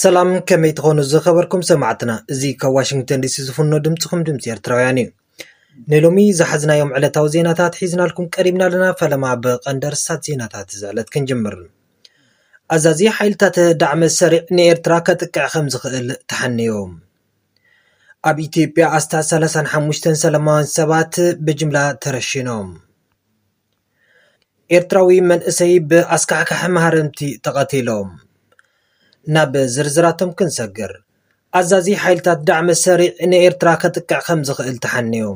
ሰላም ከመይ ትኾኑ ዝኸበርኩም ሰማዕትና እዚ ካብ ዋሽንግተን ዲሲ ዝፍኖ ድምፅኹም ድምፂ ኤርትራውያን እዩ ንሎሚ ዝሓዝናዮም ዕለታዊ ዜናታት ሒዝናልኩም ቀሪብና ኣለና ፈለማ ብቐንዲ ርስታት ዜናታት እዚ ዕለት ክንጅምር ኣዛዚ ሓይልታት ዳዕመ ሰሪዕ ንኤርትራ ከጥቅዕ ከም ዝኽእል ተሓንዮ ኣብ ኢትዮጵያ ኣስታት 35 ሰላማውያን ሰባት ብጅምላ ተረሺኖም ኤርትራዊ መንእሰይ ብኣስካሕካሒ ማህረምቲ ተቐቲሎም። ናብ ዝርዝራቶም ክንሰግር፣ ኣዛዚ ሓይልታት ዳዕመ ሰሪዕ ንኤርትራ ከጥቅዕ ከም ዝኽእል ተሓንዩ።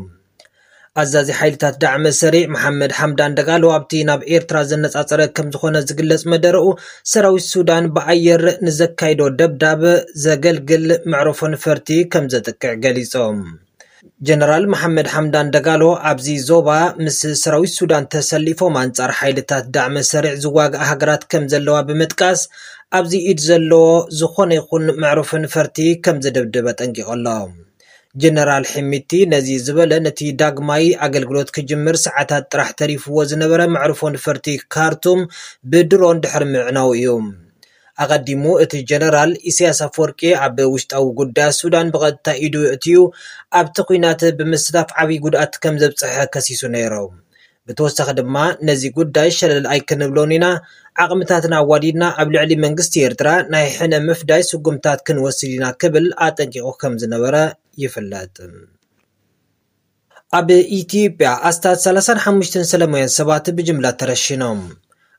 ኣዛዚ ሓይልታት ዳዕመ ሰሪዕ መሓመድ ሓምዳን ደጋሎ ኣብቲ ናብ ኤርትራ ዘነጻጸረ ከም ዝኾነ ዝግለጽ መደረኡ ሰራዊት ሱዳን ብኣየር ንዘካይዶ ደብዳብ ዘገልግል መዕረፎ ነፈርቲ ከም ዘጥቅዕ ገሊጾም። ጀነራል መሓመድ ሓምዳን ደጋሎ ኣብዚ ዞባ ምስ ሰራዊት ሱዳን ተሰሊፎም ኣንጻር ሓይልታት ዳዕመ ሰሪዕ ዝዋግኣ ሃገራት ከም ዘለዋ ብምጥቃስ ኣብዚ ኢድ ዘለዎ ዝኾነ ይኹን መዕሩፊ ንፈርቲ ከም ዝድብድብ ኣጠንቂቑ ኣሎ። ጀነራል ሒሚቲ ነዚ ዝበለ ነቲ ዳግማይ ኣገልግሎት ክጅምር ሰዓታት ጥራሕ ተሪፍዎ ዝነበረ መዕርፎ ንፈርቲ ካርቱም ብድሮን ድሕሪ ምዕናዉ እዩ። ኣቐዲሙ እቲ ጀነራል፣ ኢሳያስ ኣፍወርቂ ኣብ ውሽጣዊ ጉዳያት ሱዳን ብቐጥታ ኢዱ የእትዩ ኣብቲ ኲናት ብምስታፍ ዓብዪ ጉድኣት ከም ዘብጽሐ ከሲሱ ነይሩ። ብተወሳኺ ድማ ነዚ ጉዳይ ሸለል ኣይክንብሎን ኢና፣ ዓቕምታትና ኣዋዲድና ኣብ ልዕሊ መንግስቲ ኤርትራ ናይ ሕነ ምፍዳይ ስጉምትታት ክንወስድ ኢና ክብል ኣጠንቂቑ ከም ዝነበረ ይፍለጥ። ኣብ ኢትዮጵያ ኣስታት ሰላሳን ሓሙሽተን ሰለማውያን ሰባት ብጅምላ ተረሺኖም።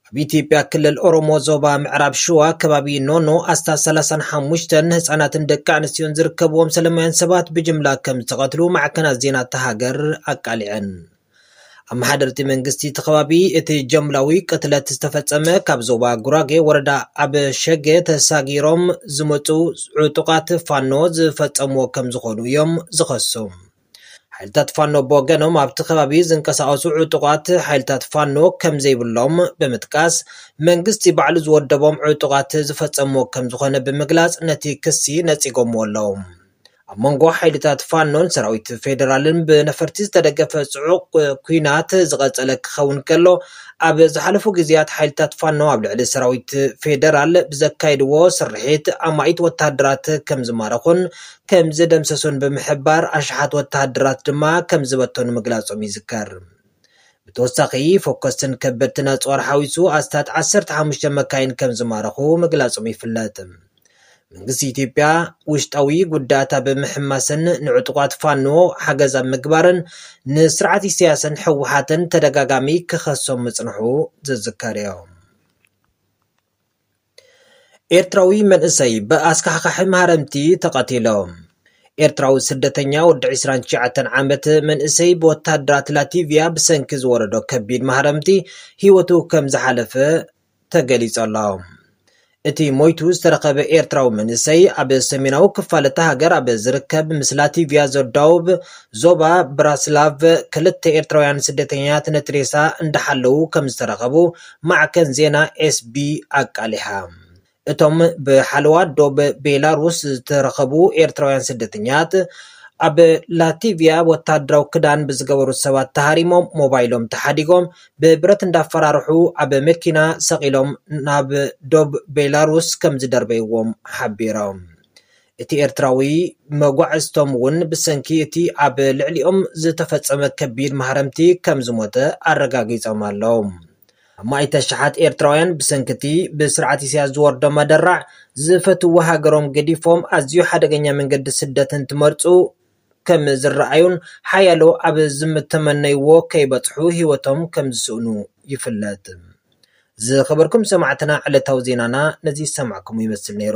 ኣብ ኢትዮጵያ ክልል ኦሮሞ ዞባ ምዕራብ ሽዋ ከባቢ ኖኖ ኣስታት ሰላሳን ሓሙሽተን ህጻናትን ደቂ ኣንስትዮን ዝርከብዎም ሰለማውያን ሰባት ብጅምላ ከም ዝተቐትሉ ማዕከናት ዜና እታ ሃገር ኣቃሊዐን። ኣመሓደርቲ መንግስቲ እቲ ከባቢ እቲ ጀምላዊ ቅትለት ዝተፈጸመ ካብ ዞባ ጉራጌ ወረዳ ኣብ ሸገ ተሳጊሮም ዝመፁ ዕጡቃት ፋኖ ዝፈጸምዎ ከም ዝኾኑ እዮም ዝኸሱ። ሓይልታት ፋኖ ብወገኖም ኣብቲ ከባቢ ዝንቀሳቐሱ ዕጡቓት ሓይልታት ፋኖ ከም ዘይብሎም ብምጥቃስ መንግስቲ ባዕሉ ዝወደቦም ዕጡቓት ዝፈፀምዎ ከም ዝኾነ ብምግላፅ ነቲ ክሲ ነፂጎምዎ ኣለዉ። ኣብ መንጎ ሓይልታት ፋኖን ሰራዊት ፌደራልን ብነፈርቲ ዝተደገፈ ፅዑቕ ኲናት ዝቐፀለ ክኸውን ከሎ ኣብ ዝሓለፉ ግዜያት ሓይልታት ፋኖ ኣብ ልዕሊ ሰራዊት ፌደራል ብዘካየድዎ ስርሒት ኣማኢት ወተሃደራት ከም ዝማረኹን ከም ዝደምሰሱን ብምሕባር ኣሽሓት ወተሃደራት ድማ ከም ዝበተኑ ምግላጾም ይዝከር። ብተወሳኺ ፎከስትን ከበድትን ኣጽዋር ሓዊሱ ኣስታት ዓሰርተ ሓሙሽተ መካይን ከም ዝማረኹ ምግላጾም ይፍለጥ። መንግስቲ ኢትዮጵያ ውሽጣዊ ጉዳያታ ብምሕማስን ንዕጡቋት ፋኖ ሓገዝ ኣብ ምግባርን ንስርዓት ኢሳያስን ህወሓትን ተደጋጋሚ ክኸሶም ምጽንሑ ዝዝከርዮ። ኤርትራዊ መንእሰይ ብኣስካሕካሒ ማህረምቲ ተቐቲሉ። ኤርትራዊ ስደተኛ ወዲ ዕስራን ትሽዓተን ዓመት መንእሰይ ብወተሃደራት ላቲቭያ ብሰንኪ ዝወረዶ ከቢድ ማህረምቲ ህይወቱ ከም ዝሓለፈ ተገሊጹ ኣሎ። እቲ ሞይቱ ዝተረኸበ ኤርትራዊ መንእሰይ ኣብ ሰሜናዊ ክፋል እታ ሃገር ኣብ ዝርከብ ምስ ላቲቭያ ዘዳውብ ዞባ ብራስላቭ ክልተ ኤርትራውያን ስደተኛታት ነቲ ሬሳ እንዳሓለዉ ከም ዝተረኸቡ ማዕከን ዜና ኤስቢ ኣቃሊሓ። እቶም ብሓለዋ ዶብ ቤላሩስ ዝተረኸቡ ኤርትራውያን ስደተኛት፣ ኣብ ላቲቭያ ወተሃደራዊ ክዳን ብዝገበሩ ሰባት ተሃሪሞም ሞባይሎም ተሓዲጎም ብብረት እንዳፈራርሑ ኣብ መኪና ሰቒሎም ናብ ዶብ ቤላሩስ ከምዝደርበይዎም ሓቢሮም። እቲ ኤርትራዊ መጓዕዝቶም ውን ብሰንኪ እቲ ኣብ ልዕሊኦም ዝተፈጸመ ከቢድ ማህረምቲ ከም ዝሞተ ኣረጋጊጾም ኣለው። ኣማኢት ኣሽሓት ኤርትራውያን ብሰንኪ እቲ ብስርዓት ኢሳያስ ዝወርዶም ኣደራዕ ዝፈትውዋ ሃገሮም ገዲፎም ኣዝዩ ሓደገኛ መንገዲ ስደት እንትመርጹ፣ ከም ዝረኣዩን ሓያሎ ኣብ ዝምተመነይዎ ከይበጽሑ ህይወቶም ከም ዝስእኑ ይፍለጥ። ዝኸበርኩም ሰማዕትና ዕለታዊ ዜናና ነዚ ዝሰማዕኩሞ ይመስል ነይሩ።